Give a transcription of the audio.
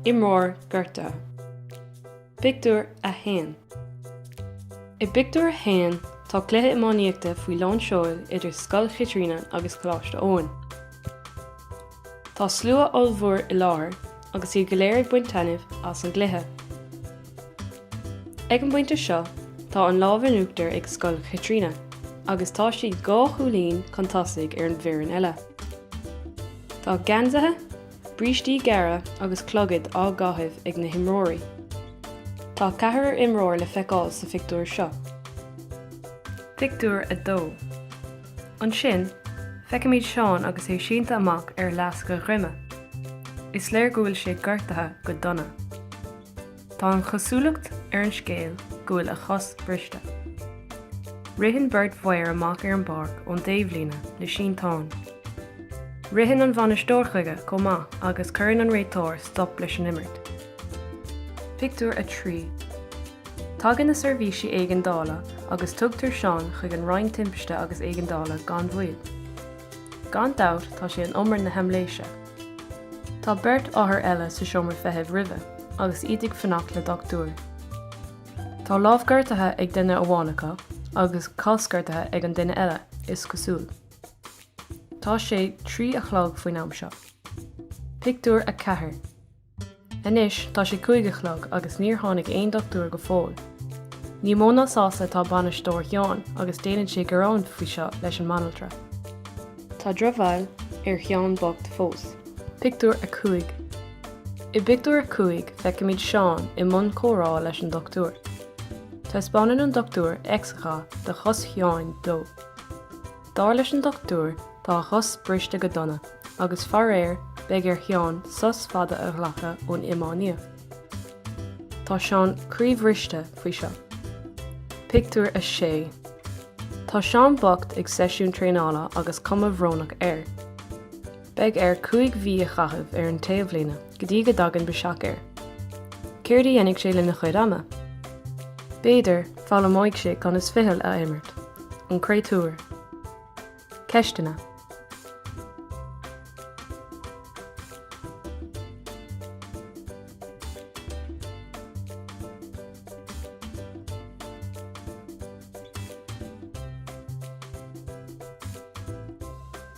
Imreoir gortaithe. Pictiúr 1 I bpictiúr a haon tá cluiche iománaíochta faoi lán seoil idir Scoil Chaitríona agus Coláiste Eoin. Tá slua ollmhór i láthair agus iad go léir ag baint taitnimh as an gcluiche. Ag an bpointe seo, tá an lámh in uachtar ag Scoil Chaitríona agus tá siad dhá chúilín chun tosaigh ar an bhfoireann eile. Tá geansaithe, brístí gearra agus clogaid á gcaitheamh ag na himreoirí. Tá ceathrar imreoir le feiceáil sa phictiúr seo. Pictiúr 2 Ansin, feicimid Seán agus é sínte amach ar fhleasc a dhroime. Is léir go bhfuil sé gortaithe go dona. Tá an chosúlacht ar an scéal go bhfuil a chos briste. Ritheann beirt mhaor amach ar an bpáirc ón dtaobhlíne le sínteán. Ritheann an bhainisteoir chuige chomh maith agus cuireann an réiteoir stop leis an imirt. Pictiúr 3 Tagann na seirbhísí éigeandála agus tugtar Seán chuig an Roinn Timpiste agus Éigeandála gan mhoill. Gan dabht tá sé in umar na haimléise. Tá beirt othar eile sa seomra feithimh roimhe agus iad ag fanacht le dochtúir. Tá lámh gortaithe ag duine amháin acu agus cos gortaithe ag an duine eile, is cosúil. Tá sé trí a chlog faoin am seo. Pictiúr 4. Anois tá sé cúig a chlog agus níor tháinig aon dochtúir go fóill. Ní mó ná sásta atá bainisteoir Sheáin agus déanann sé gearán faoi seo leis an mbanaltra. Tá drochbhail ar Sheán bocht fós. Pictiúr 5 I bpictiúr a cúig feicimid Seán i mbun comhrá leis an dochtúir. Taispeánann an dochtúir x-gha de chos Sheáin dó. Dar leis an dochtúir, tá a chos briste go dona, agus faraor, beidh ar Sheán sos fada a ghlacadh ón iománaíocht. Tá Seán croíbhriste faoi seo. Pictiúr 6 Tá Seán bocht ag seisiún traenála agus cuma bhrónach air. Beidh air cúig mhí a chaitheamh ar an taobhlíne go dtí go dtagann biseach air. Céard a dhéanfaidh sé lena chuid ama? B'fhéidir, foghlaimeoidh sé conas ficheall a imirt. An créatúr. Ceisteanna.